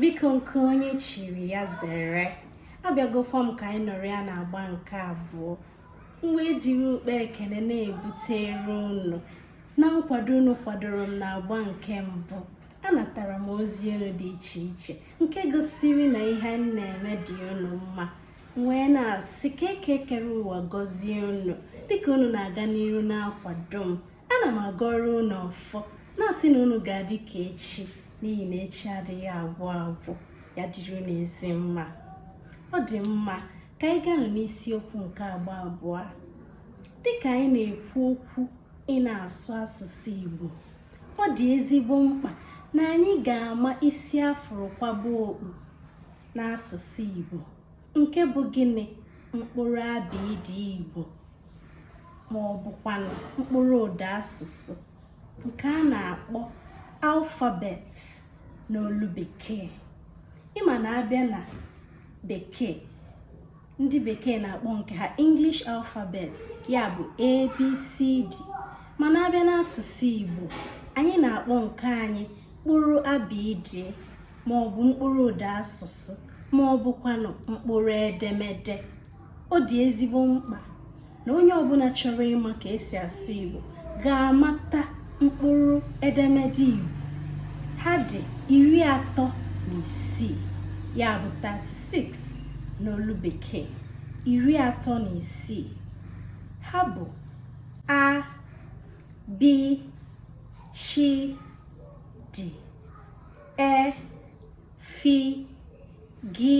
biko nke onye chiri ya zere abịagokwa m ka anyị nọrịa na agba nke abụọ m wee jiri ukpa ekene na-ebutere unu na nkwado unu kwadoro m na agba nke mbụ anatara m ozi unu dị iche iche nke gosiri na ihe m na-eme dị unu mma wee na-asị ka eke kere ụwa gọzie unu dịka unu na-aga n'iru na-akwado m ana m agọrọ unu ọfọ na-asị na unu ga-adị ka echi n'ihi na echi adịghị agwụ agwụ ya dịrị unu ezi mma ọ dị mma ka anyị ganụ n'isiokwu nke agba abụọ dịka anyị na-ekwu okwu ị na-asụ asụsụ Igbo ọ dị ezigbo mkpa na anyị ga-ama isi afụrụ kwaba okpu n'asụsụ Igbo nke bụ gịnị mkpụrụ abịdị Igbo ma ọ bụkwanụ mkpụrụ ụda asụsụ nke a na-akpọ alphabet n'olu bekee ịma na abịa na bekee ndị bekee na-akpọ nke ha English alphabets ya bụ ABCD mana abịa n'asụsụ Igbo anyị na-akpọ nke anyị mkpụrụ abịdị ma ọ bụ mkpụrụ ụda asụsụ ma ọ bụkwanụ mkpụrụ edemede ọ dị ezigbo mkpa na onye ọbụla chọrọ ịma ka esi asụ Igbo ga-amata mkpụrụ edemede Igbo ha dị iri atọ na isii ya bụ 36 n'olu bekee iri atọ na isii ha bụ a b ch d e fi gi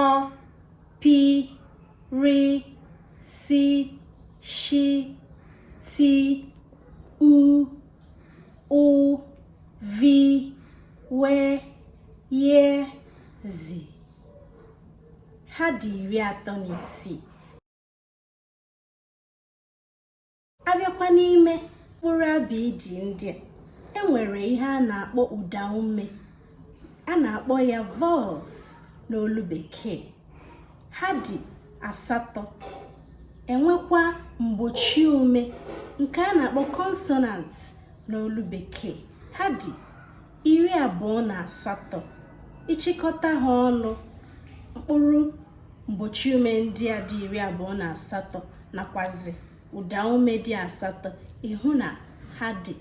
ọ pi ri si shi ti u ụ vi we ye zi ha dị iri atọ na isii abịakwa n'ime mkpụrụ abịdị ndị a enwere ihe a na-akpọ ụda ume a na-akpọ ya vowels n'olu bekee ha dị asatọ enwekwa mgbochi ume nke a na-akpọ consonant n'olu bekee ha dị iri abụọ na asatọ ịchịkọta ha ọnụ mkpụrụ mgbochi ume ndị a dị iri abụọ na asatọ nakwazi ụdaume dị asatọ ị hụ na ha dị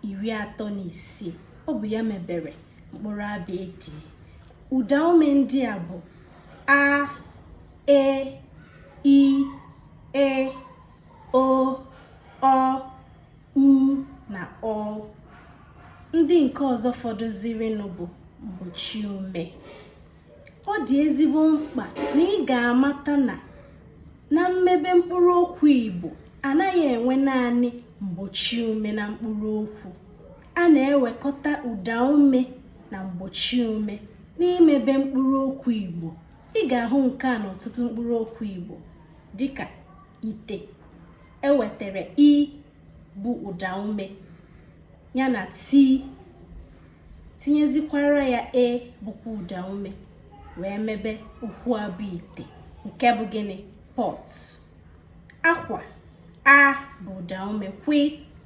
iri atọ na isii ọ bụ ya mebere mkpụrụ abịdịị ụdaume ndị a bụ a e i ị o ọ u na ụ ndị nke ọzọ fọdụzirinụ bụ mgbochi ume ọ dị ezigbo mkpa na ị ga-amata na na mmebe mkpụrụ okwu Igbo anaghị enwe naanị mgbochi ume na mkpụrụ okwu a na-ewekọta ụda ume na mgbochi ume n'imebe mkpụrụ okwu Igbo ị ga-ahụ nke a n'ọtụtụ mkpụrụ okwu Igbo dịka ite e wetara i bụ ụda ume ya na ti tinyezikwara ya e bụkwa ụda ume wee mebe okwu a bụ ite nke bụ gịnị pot akwa a bụ ụda ume kwi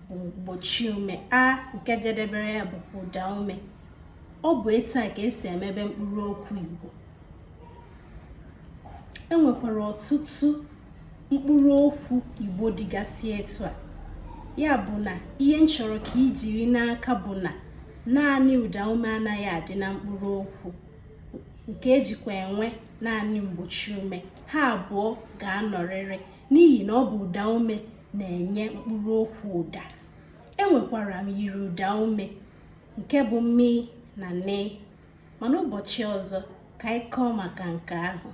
bụ mgbochi ume a nke jedebere ya bụkwa ụda ume ọ bụ etu a ka esi emebe mkpụrụ okwu igbo e nwekwara ọtụtụ mkpụrụ okwu igbo dịgasị etu a ya bụ na ihe m chọrọ ka i jiri n'aka bụ na naanị ụda ume anaghị adị na mkpụrụ okwu nke e jikwa enwe naanị mgbochi ume ha abụọ ga-anọrịrị n'ihi na ọ bụ ụda ume na-enye mkpụrụ okwu ụda e nwekwara myiri ụda ume nke bụ mi na ni mana ụbọchị ọzọ ka anyị kọọ maka nke ahụ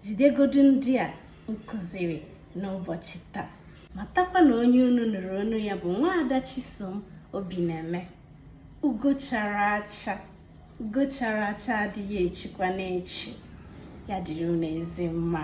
jidegodu ndị a m kụziri n'ụbọchị taa matakwa na onye unu nụrụ olu ya bụ nwaada Chisom Obi na-eme ugo chara acha ugo chara acha adịghị echukwanụ echu ya dịrị unu ezi mma